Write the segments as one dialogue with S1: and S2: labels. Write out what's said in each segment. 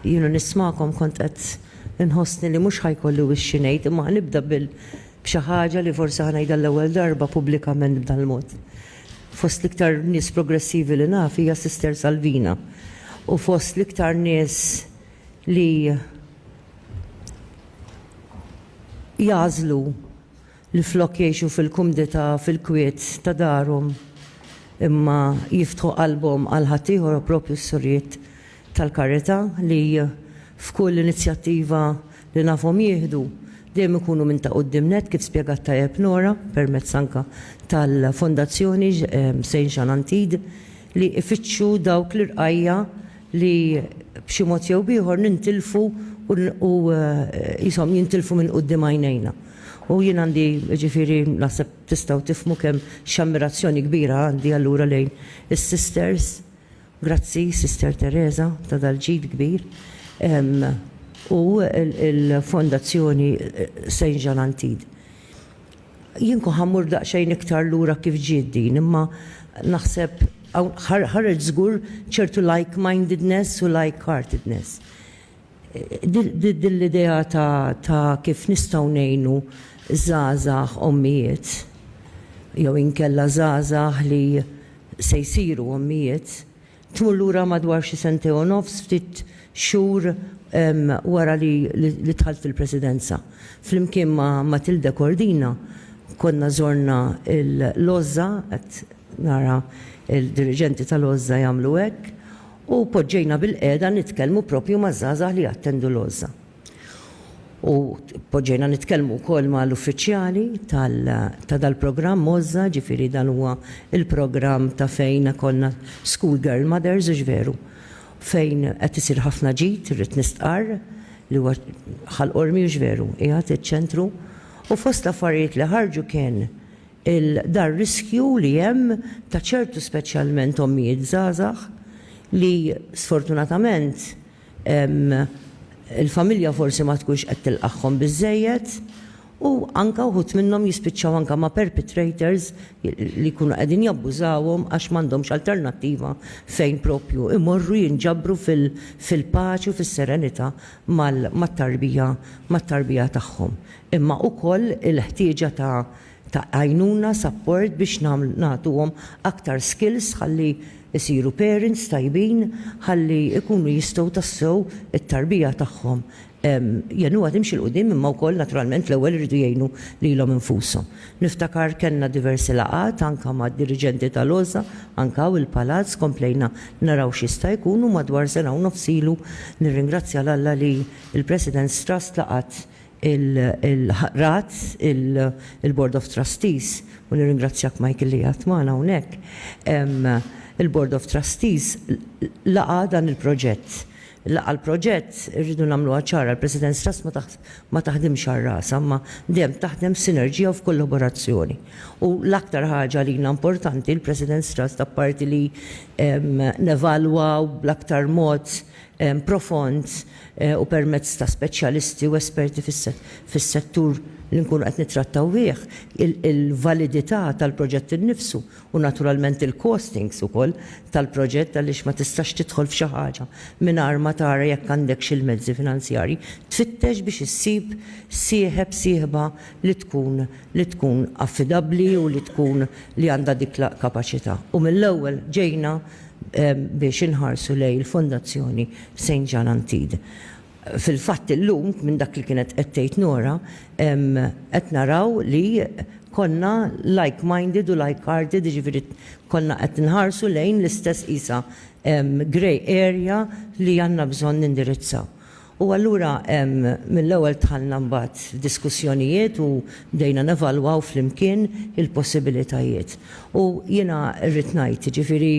S1: jienu nismakom kont qed inħossni li mhux ħajkolli wixxi ngħid imma nibda bil b'xi ħaġa li forsi ħanajda l-ewwel darba pubblikament b'dan mod. Fost l-iktar nies progressivi li naf hija Sister Salvina u fost l-iktar nies li jażlu li flok jgħixu fil-kumdità fil-kwiet ta' darhom imma jiftħu qalbhom għal ħaddieħor u proprju s-Surijiet tal-Karità li f'kull inizjattiva li nafhom jieħdu dejjem ikunu minn ta' quddiem nett kif spjegat tajjeb Nora permezz anke tal-Fondazzjoni Saint Jean Antide li ifittxu dawk l-irqajja' li b'xi mod jew b'ieħor nintilfu u qishom jintilfu minn quddiem għajnejna. U jien għandi, jiġifieri naħseb tistgħu tifhmu kemm x'ammirazzjoni kbira għandi allura lejn is-sisters, grazzi Sister Teresa ta' dal-ġid kbir, u l-Fondazzjoni Saint Jean Antide. Jien kont ħa mmur daqsxejn iktar lura kif ġiet din, imma naħseb hawn ħareġ żgur ċertu like-mindedness u like-heartedness. Din l-idea ta' kif nistgħu ngħinu żgħażagħ ommijiet jew inkella żgħażagħ li se jsiru ommijiet tmur lura madwar xi sentejn u nofs, ftit xhur wara li dħalt fil-Presidenza. Flimkien ma' Matilde Cordina konna żorna l-Għożża, qed nara d-diriġenti tal-Għożża jagħmlu hekk, U poġġejna bilqiegħda nitkellmu proprju maż-żgħażagħ li jattendu l-għożża. U poġġejna nitkellmu wkoll ma' l-uffiċjali tal ta' dal-programm għożża, ġifieri dan huwa l-programm ta' fejn ikollna School Girl Mothers, hux veru? Fejn qed isir ħafna ġid, irrid nistqarr, li huwa Ħal Qormi, hux veru? Qiegħed iċ-ċentru. U fost l-affarijiet li ħarġu kien il-dar-riskju li hemm ta' ċertu speċjalment ommijiet żgħażagħ li sfortunatament il-familja forsi ma tkunx qed tilqagħhom biżżejjed u anke wħud minnhom jispiċċaw anke ma' perpetrators li jkunu qegħdin jabbużawhom għax m'għandhomx alternattiva fejn proprju imorru jinġabru fil-paċi u fis-serenità mat-tarbija mat-tarbija tagħhom. imma ukoll il-ħtieġa ta' ta' għajnuna, support biex nagħtuhom aktar skills ħalli jsiru parents tajbin, ħalli jkunu jistgħu tassew it-tarbija tagħhom jgħinuha timxi 'l quddiem imma wkoll naturalment l-ewwel iridu jgħinu lilhom infushom. Niftakar kellna diversi laqgħat anke mad-diriġenti tal-OSA anke hawn il-Palazz komplejna naraw x'jista' jkun u madwar sena u nofs ilu nirringrazzja 'l Alla li l-President's Trust laqgħet il-RATs, il-Board of Trustees, u nirringrazzjak Michael li qiegħed magħna hawnhekk, il-Board of Trustees laqa' dan il-proġett. Laqa' l-proġett, irridu nagħmluha ċara, l-President's Trust ma taħdimx għal rasha, imma dejjem taħdem f'sinerġija u f'kollaborazzjoni. U l-aktar ħaġa għalina importanti, il-President's Trust apparti li nevalwaw bl-aktar mod profond u permezz ta' speċjalisti u esperti fis-settur li nkunu qed nittrattaw bih, il-validità tal-proġett innifsu u naturalment il-costings ukoll tal-proġett għaliex ma tistax tidħol f'xi ħaġa mingħajr ma tara jekk għandekx il-mezzi finanzjarji tfittex biex issib sieħeb, sieħba li tkun li tkun affidabbli u li tkun li għandha dik l-kapaċità. U mill-ewwel ġejna biex inħarsu lejn il-Fondazzjoni Saint Jean Antide. Fil-fatt illum, minn dak li kienet qed tgħid Nora, qed naraw li konna like minded u like hearted, jiġifieri konna qed nħarsu lejn l-istess qisha grey area li għandna bżonn nindirizzaw. U allura mill-ewwel dħalna mbagħad f'diskussjonijiet u bdejna nevalwaw flimkien il-possibilitajiet. U jiena rrid ngħid, jiġifieri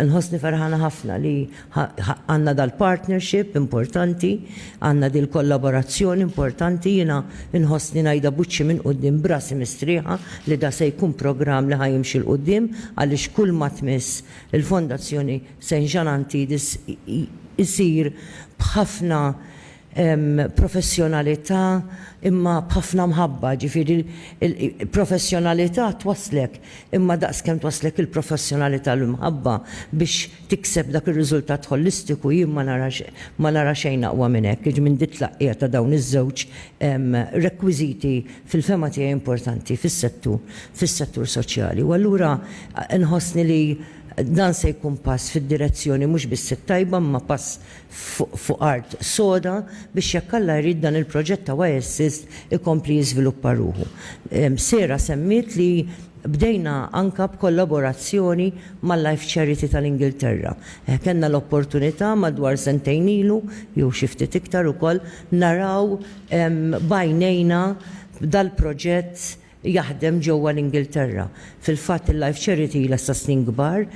S1: nħossni ferħana ħafna li għandna dal-partnership importanti, għandna dil-kollaborazzjoni importanti, jiena nħossni ngħidha b'wiċċi minn quddiem b'rasi mistrieħa li da se jkun programm li ħa jimxi 'l quddiem għaliex kulma tmiss il-Fondazzjoni Saint Jean Antidis isir b'ħafna professjonalità imma b'ħafna mħabba, ġifieri l-professjonalità twasslek imma daqs kemm twasslek il-professjonalità l-imħabba biex tikseb dak ir-riżultat ħolistiku jien ma nara xejn aqwa minn hekk, jiġifieri minn dit-tlaqqigħ ta' dawn iż-żewġ rekwiżiti fil-fehma tiegħi importanti fis-settur fis-settur soċjali. U allura nħossni li. Dan se jkun pass fid-direzzjoni mhux biss it-tajba imma pass fuq art soda biex jekk Alla jrid dan il-proġett ta' Y-Assist ikompli jiżviluppa ruħu. Sarah semmiet li bdejna anke b'kollaborazzjoni mal-Life Charity tal-Ingilterra. Kellna l-opportunità madwar sentejn ilu, jew xi ftit iktar ukoll, naraw b'għajnejna dal-proġett jaħdem ġewwa l-Ingilterra. Fil-fatt il-Life Charity ilha sa snin kbar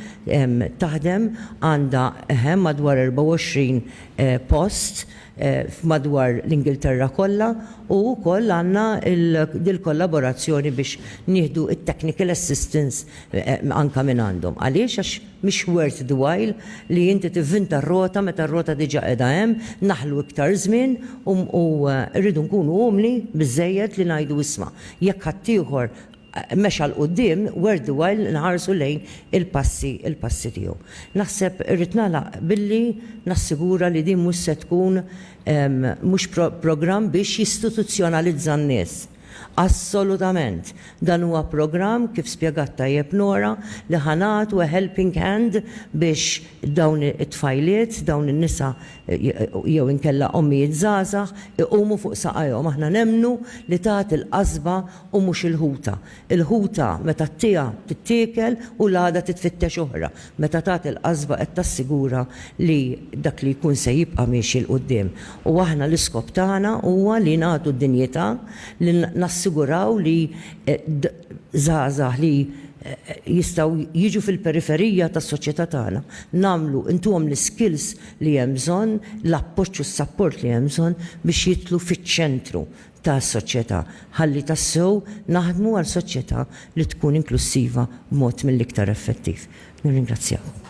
S1: taħdem, għandha eħe madwar 24 post f'madwar l-Ingilterra kollha u wkoll għandna dil-kollaborazzjoni biex nieħdu t-technical assistance anke minn għandhom. Għaliex? Għax. Mhix worth the while li inti tivvinta r-rota meta r-rota diġà qiegħda hemm, naħlu iktar żmien u u rridu nkunu umli biżżejjed li ngħidu isma', jekk ħaddieħor mexa 'l quddiem, worth the while li nħarsu lejn il-passi il-passi tiegħu. Naħseb irrid nagħlaq billi nassigura li din mhux se tkun mhux programm biex jistituzzjonalizza n-nies. Assolutament! Dan huwa programm, kif spjegat tajjeb Nora, li ħa nagħtu a helping hand biex dawn it-tfajliet, dawn in-nisa jew inkella ommijiet żgħażagħ iqumu fuq saqajhom. Aħna nemmnu li tagħti l-qasba u mhux il-ħuta. Il-ħuta meta ttiha tittiekel u l-għada titfittex oħra. Meta tagħti l-qasba qed tassigura li dak li jkun se jibqa' miexi 'l quddiem. U aħna l-iskop tagħna huwa li nagħtu d-dinjità, li nassiguraw li żgħażagħ li jistgħu jiġu fil-periferija tas-soċjetà tagħna, nagħmlu, ntuhom l-iskills li hemm bżonn, l-appoġġ u s-sapport li hemm bżonn biex jidħlu fiċ-ċentru ta' soċjetà, ħalli tassew naħdmu għal soċjetà li tkun inklussiva b'mod mill-iktar effettiv. Nirringrazzjakom.